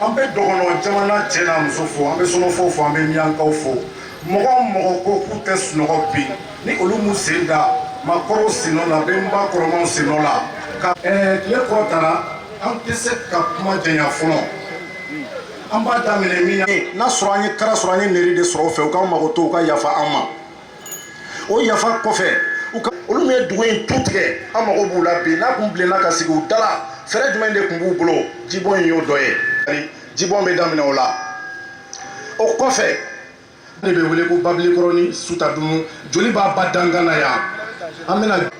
an bɛ dɔgɔnɔ jamana cɛ n'a muso fo an bɛ sɔnɔfɔ fo an bɛ miyankaw fo mɔgɔ mɔgɔ ko k'u tɛ sunɔgɔ bi ni olu m'u sen da makɔrɔw sennɔ la benba kɔrɔmaw sennɔ la ka tile kɔrɔtara an tɛ se ka kuma janya fɔlɔ an b'a daminɛ min n'a sɔrɔ an ye kara sɔrɔ an ye nɛri de sɔrɔ fɛ u k'an makoto u ka yafa an ma o yafa kɔfɛ olu min ye dugu in tu tigɛ an mago b'u la bi n'a kun bilenna ka sigi u dala fɛɛrɛ jumɛn de tun b'u bolo jibɔn in y'o dɔ ye jibɔn bɛ daminɛ o la o kɔfɛ ne bɛ wele ko babilikɔrɔnin sutadunu joliba ba dankan na yan an bɛna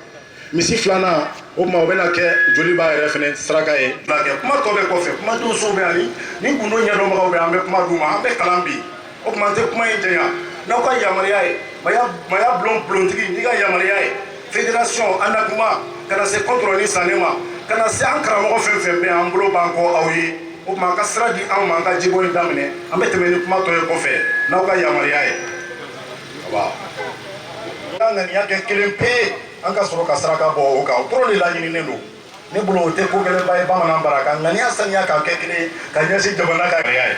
misi filanan o tuma o bɛna kɛ joliba yɛrɛ fana saraka ye kɛ kuma tɔ bɛ kɔfɛ kuma donsow bɛ yan ni gundo ɲɛdɔnbagaw bɛ an bɛ kuma d'u ma an bɛ kalan bi o tuma n tɛ kuma in janya n'aw ka yamaruya ye maya maya bulon bulontigi n'i ka yamaruya ye fédération an na kuma ka na se kɔntɔrɔn ni sanɛ ma ka na se an karamɔgɔ fɛn fɛn bɛ an bolo b'an kɔ aw ye o tuma aw ka sira di anw ma an ka jibɔn in daminɛ an bɛ tɛmɛ ni kuma tɔ ye kɔfɛ n'aw ka yamaruya ye ŋaniya kɛ kelen pe an ka sɔrɔ ka saraka bɔ o kan o dɔrɔn de laɲininen don ne bolo o tɛ ko gɛlɛnba ye bamanan bara ka ŋaniya saniya k'a kɛ kelen ka ɲɛsin jamana ka gɛlɛya ye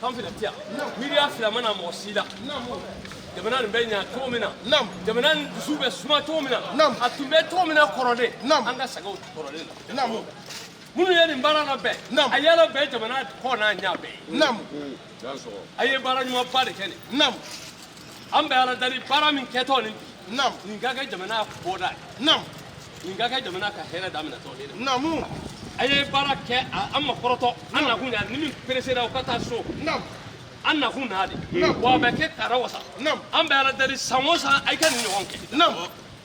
Kan fila tɛ yan miiriya fila ma na mɔgɔ si la jamana nin bɛ ɲa cogo min na jamana nin dusu bɛ suma cogo min na a tun bɛ cogo min na kɔrɔlen an ka segin o kɔrɔlen na minnu ye nin baara labɛn a yala bɛɛ jamana kɔ n'a ɲa bɛɛ ye a ye baara ɲumanba de kɛ nin an bɛ ala dari baara min kɛtɔ nin bi naamu nin ka kɛ jamana bɔda ye naamu nin ka kɛ jamana ka hɛrɛ daminɛtɔ de ye naamu a ye baara kɛ a- an ma kɔrɔtɔ an nakun na ni min peresera o ka taa so naamu an nakun na de Naamu. wa a bɛ kɛ kara wasa naamu an bɛ ala dari san o san a ye ka nin ɲɔgɔn kɛ naamu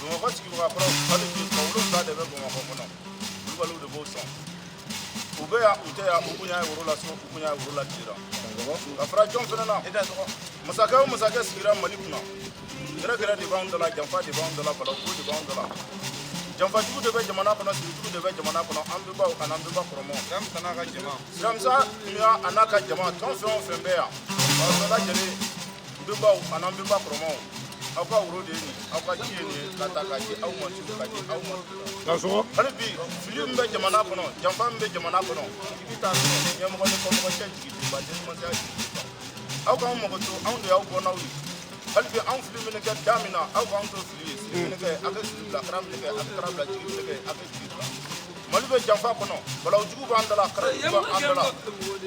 bamakɔ sigibaga kɔrɔ hali bi tubabuw ta de bɛ bamakɔ kɔnɔ kulubaliw de b'o sɔn u bɛ yan u tɛ yan u bonya ye woro la so u bonya ye woro la jira ka fara jɔn fana na masakɛ o masakɛ sigira mali kunna gɛrɛgɛrɛ de b'anw dala janfa de b'anw dala balako de b'anw dala janfajugu de bɛ jamana kɔnɔ sigijugu de bɛ jamana kɔnɔ an benbaw ani an benba kɔrɔmaw siramisa n'a ka jama siramisa nuya a n'a ka jama tɔn fɛn o fɛn bɛ yan aw bɛɛ lajɛlen An benbaw ani an benba kɔrɔmaw aw ka woro de ye nin aw ka ji ye nin ye k'a ta k'a di aw ma su k'a di aw ma ka sɔgɔ hali bi fili min bɛ jamana kɔnɔ janfa min bɛ jamana kɔnɔ i bɛ taa sɔrɔ ɲɛmɔgɔ ni kɔmɔgɔ cɛ jigidenba denmatiya jigidenba aw k'an makoto anw de y'aw bɔnnaw ye hali bi anw fili mana kɛ da min na aw k'anw to fili ye siri mana kɛ a ka siri bila kara mana kɛ a ka kara bila jigi mana kɛ a ka jigi bila mali bɛ janfa kɔnɔ balawu jugu b'an da la kara b'an da la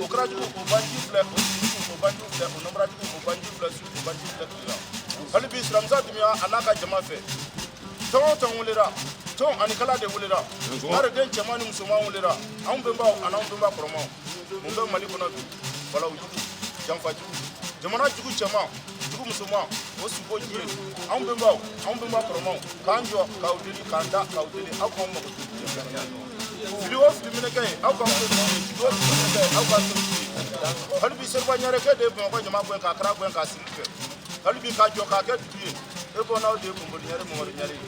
o kara jugu o banji filɛ o banji filɛ o nɔnbara jugu o banji filɛ su o banji filɛ tile la hali bi silamɛsa dunya a n'a ka jama fɛ tɔn o tɔn wulira tɔn ani kala de wulira ɲare den cɛman ni musoman wulira anw bɛnbaw ani anw bɛnba kɔrɔmaw mun bɛ mali kɔnɔ bi balawu jugu janfa jugu jamana jugu cɛman jugu musoman o suko ji ye anw bɛnbaw anw bɛnba kɔrɔmaw k'an jɔ k'aw deli k'an da k'aw deli aw k'an makoto fili o fili mana kɛ yen aw k'an to diɲɛ hali bi seriba ɲare kɛ de ye bamakɔ ɲama gɛn k'a kara gɛn k'a sigili kɛ hali bi k'a jɔ k'a kɛ dugu ye e bɔnnaw de ye bɔnboli ɲare mɔmɔri ɲare ye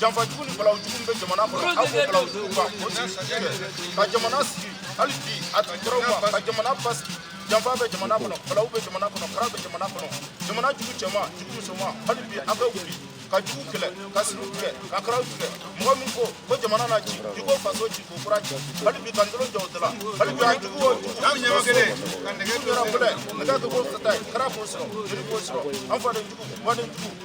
janfa jugu ni balawu jugu bɛ jamana kɔnɔ aw k'o balawu jugu ban o siri tigɛ ka jamana sigi hali bi a tun tɔrɔ ma ka jamana basigi janfa bɛ jamana kɔnɔ balawu bɛ jamana kɔnɔ kara bɛ jamana kɔnɔ jamana jugu cɛman jugu musoman hali bi an bɛ wuli ka jugu kɛlɛ ka siriw tigɛ ka karaw tigɛ mɔgɔ min ko ko jamana na ci i ko faso ci k'o fura cɛ hali bi ka ntolo jɔ o da la hali bi a jugu o jugu ka nɛgɛ kɛra fɛlɛ nɛgɛ kɛ k'o sata ye kara k'o sɔrɔ joli k'o sɔrɔ an faden jugu mɔden jugu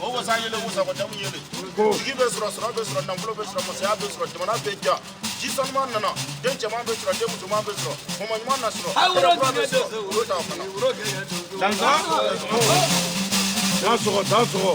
o wasa yele wasa ko jamu yele jigi bɛ sɔrɔ sɔrɔ bɛ sɔrɔ nafolo bɛ sɔrɔ masaya bɛ sɔrɔ jamana bɛ diya ji sanuman nana den cɛman bɛ sɔrɔ den musoman bɛ sɔrɔ mɔmɔ ɲuman na sɔrɔ kɛlɛ kura bɛ sɔrɔ olu t'a fana dansa dansɔgɔ dansɔgɔ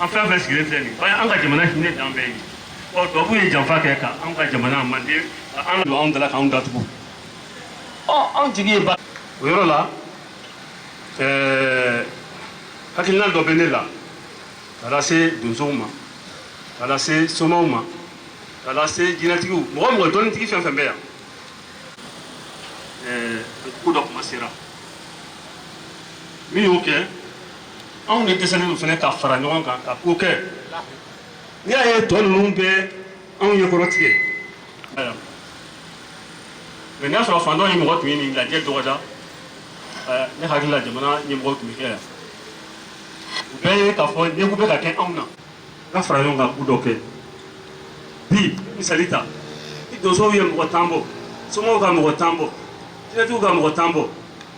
an fɛn fɛn sigilen filɛ nin an ka jamana hinɛ dan bɛɛ ye ɔ tubabuw ye janfa kɛ ka an ka jamana manden ka an don anw dala k'anw datugu ɔ anw jigi ye ba o yɔrɔ la ɛɛ hakilina dɔ bɛ ne la ka lase donsow ma ka lase somaw ma ka lase jinɛtigiw mɔgɔ o mɔgɔ dɔnnitigi fɛn fɛn bɛ yan ɛɛ ko dɔ kuma sera min y'o kɛ anw de dɛsɛnen don fana ka fara ɲɔgɔn kan ka ko kɛ n'i y'a ye tɔ ninnu bɛ anw ɲɛ kɔrɔ tigɛ mɛ n'a sɔrɔ fan dɔ ye mɔgɔ tun ye nin lajɛ dɔgɔda ne hakili la jamana ɲɛmɔgɔw tun bɛ kɛ yan u bɛɛ ye k'a fɔ ɲɛko bɛ ka kɛ anw na ka fara ɲɔgɔn kan ko dɔ kɛ bi misali ta ni donsow ye mɔgɔ tan bɔ somaw ka mɔgɔ tan bɔ jinɛtigiw ka mɔgɔ tan bɔ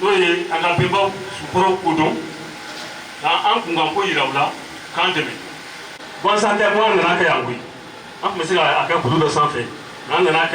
n'o ye an ka bɛnbaw sukɔrɔ ko dɔn ka an kunkan ko yira u la k'an dɛmɛ gansan tɛ ko an nan'a kɛ yan koyi an tun bɛ se ka a kɛ kulu dɔ sanfɛ nka an nan'a kɛ